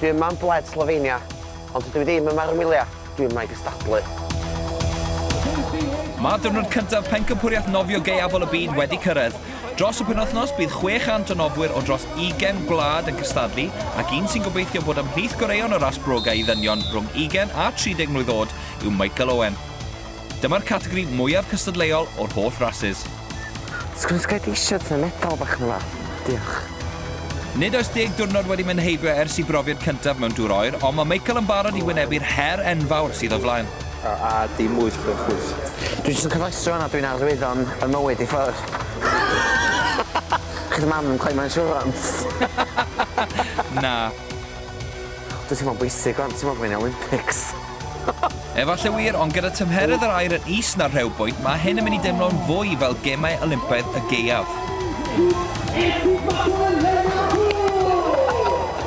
Dwi yma am bled Slofenia, ond dydw i ddim yma ar 'y ngwyliau, dwi yma i gystadlu. Mae diwrnod cyntaf Pencampwriaeth Nofio Gaeafol y Byd wedi cyrraedd. Dros y penwythnos, bydd 600 o nofwyr o dros 20 gwlad yn cystadlu, ac un sy'n gobeithio bod ymhlith goreuon y ras brogau i ddynion rhwng 20 a 30 mlwydd oed yw Michael Owen. Dyma'r categori mwyaf cystadleuol o'r holl rasys. Sgwn sgert eisiau tŷ metal bach yn dda. Diolch. Nid oes deg diwrnod wedi mynd heibio ers i brofiad cyntaf mewn dŵr oer, ond mae Michael yn barod i wynebu'r her enfawr sydd o flaen. A a dim wyth chwech wyth. Dwi jyst yn cofrestru wan a dwi'n arwyddo'n y mywyd i ffwrdd. Chi dy mam ddim cweit mor insurance. Na. Dwi'n teimlo'n bwysig wan, ti'n meddwl bo fi'n Olympics. Efalle wir, ond gyda tymheredd yr aer yn is na'r rhew bwynt, mae hyn yn mynd i deimlo'n fwy fel Gemau Olympaidd y Gaeaf.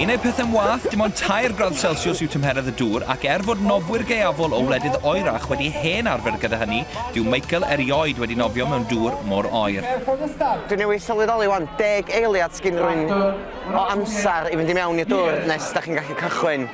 Yn eu pethau'n wath, dim ond tair gradd Celsiws yw tymheredd y dŵr, ac er fod nofwyr gaeafol o wledydd oerach wedi hen arfer gyda hynny, dyw Michael erioed wedi nofio mewn dŵr mor oer. Dwi newydd sylweddoli 'wan, deg eiliad sgin rywun o amser i fynd i mewn i'r dŵr nes 'da chi'n gallu cychwyn.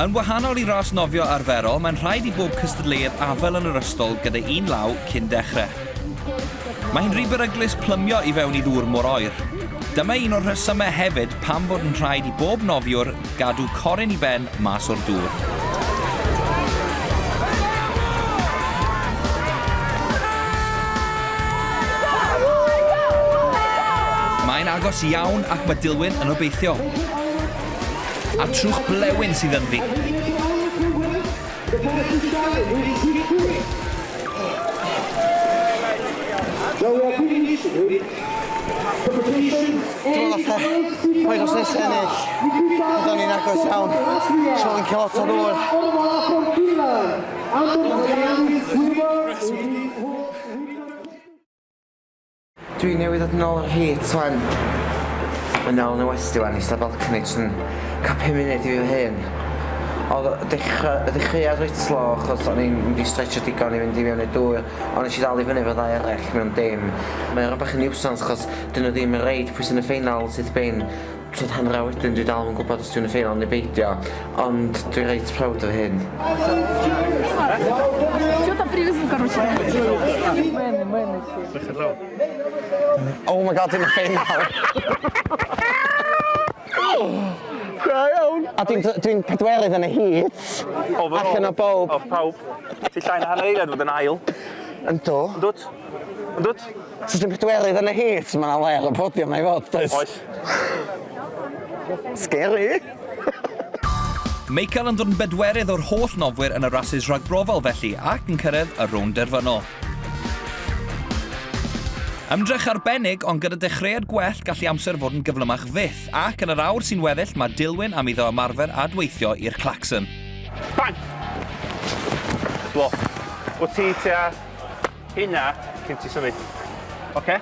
Yn wahanol i ras nofio arferol, mae'n rhaid i bob cystadleuedd afael yn yr ystol gyda un law cyn dechrau. Mae hi'n rhy beryglus plymio i fewn i ddŵr mor oer. Dyma un o'r rhesymau hefyd pam bod yn rhaid i bob nofiwr gadw coryn i ben mas o'r dŵr. Mae'n agos iawn ac mae Dilwyn yn obeithiol. A'r trwch blewyn sydd ynddi. Dim ond fatha boed os nes ennill, byddwn ni'n agos iawn, so fi'n cael lot o ddŵr. Dwi newydd ddod nôl o'r heat wan. Mae'n dal yn y westy wan, eista balcony jyst yn cael pum munud i fi fy hun. Oedd y dechra- y ddechreuad reit slow achos o'n i'n mynd i stretchio digon i fynd i mewn i'r dŵr, ond nes i ddal i fyny efo ddau arall mewn dim. Mae o bach yn niwsans achos 'dyn nhw ddim yn reid pwy sy'n y ffeinal syth bin. Tua hanner awr wedyn dwi dal ddim yn gwybod os dwi yn y ffeinal neu beidio, ond dwi reit proud o hyn. Oh my God dwi'n y ffeinal! Da iawn! A dwi'n dwi'n pedwerydd yn y heat allan o bawb. Off pawb. Ti llai na hanner eiliad i fod yn ail. Yndw. Yndwt? Yndwt? Os ti'n pedwerydd yn y heat, mae yna le ar y podiwm na i fod, does? Oes. Scary! Michael yn dod yn bedwerydd o'r holl nofwyr yn y rasys ragbrofol felly ac yn cyrraedd y rownd derfynol. Ymdrech arbennig, ond gyda dechreuad gwell gallu amser fod yn gyflymach fyth, ac yn yr awr sy'n weddill mae Dilwyn am iddo ymarfer a dweithio i'r clacson. Bang! Blo. Wyt ti tua Hynna, cyn ti symud. Oce? Okay.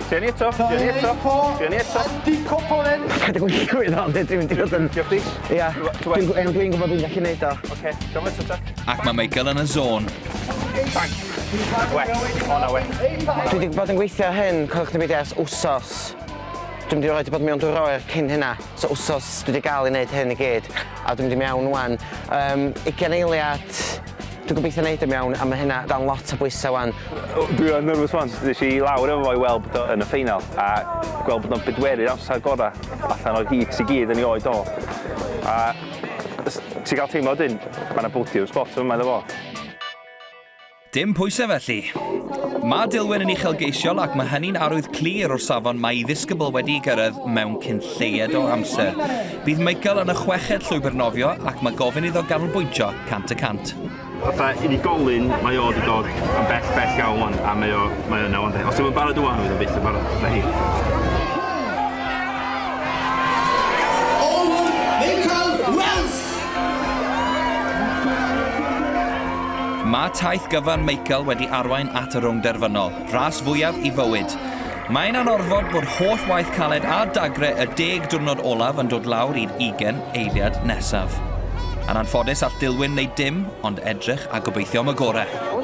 Trio ni eto, trio ni eto, trio ni eto. Andy Coponen! Dwi'n gwybod o'n dweud, dwi'n gwybod yn... Diolch dis. Ia, dwi'n gwybod dwi'n gallu neud o. Oce, gofio eto ta. Ac mae Michael yn y zôn. Bang. We, o na we. Dwi wedi bod yn gweithio hyn, codwch ni beidio ers wsos. Dwi'n mynd i roed i bod mewn dwy'r oer cyn hynna. So wsos dwi wedi gael ei wneud hyn i gyd. A dwi'n mynd i mewn wan. Um, 20 eiliad, Dwi'n gobeithio wneud yn iawn a mae hynna dan lot o bwysau 'wan. Dwi yn nyrfys 'wan. Ddes i lawr efo fo i weld bod o yn y ffeinal a gweld bod o'n bedwerydd amser gorau allan o'r heats i gyd yn ei oed o. A s- ti'n cael teimlo wedyn, mae 'na bodiwm sbot yn fama iddo fo. Dim pwysau felly. Mae Dillwyn yn uchelgeisiol ac mae hynny'n arwydd clir o'r safon mae ei ddisgybl wedi'i gyrraedd mewn cyn lleied o amser. Bydd Michael yn y chweched llwybr nofio ac mae gofyn iddo ganolbwyntio Cant y cant. Fatha unigolyn, mae o wedi dod yn bell, bell iawn wan, a mae o, mae yna wan. Os yw'n barod wan, fydd o byth yn barod, na hi. Mae taith gyfan Michael wedi arwain at y rownd derfynol, ras fwyaf i fywyd. Mae'n anorfod bod holl waith caled a dagre y deg diwrnod olaf yn dod lawr i'r ugen eiliad nesaf. Yn anffodus all Dilwyn wneud dim ond edrych a gobeithio am y gorau.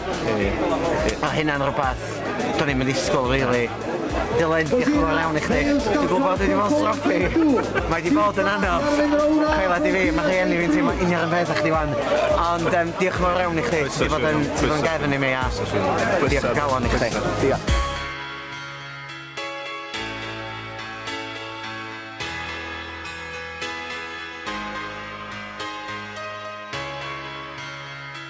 Mae hynna'n rhywbeth do'n i'm yn ddisgwyl rili. Dylan, diolch yn fawr iawn i chdi. Dwi'n gwybod dwi 'di bod yn stroppy. Mae 'di bod yn anodd. Credad i fi, mae rhieni fi'n teimlo union yr peth â chdi 'wan. Ond yym diolch yn fawr iawn i chdi. Ti 'di bod yn ti 'di bod yn gefn i mi a diolch o galon i chdi. Diolch.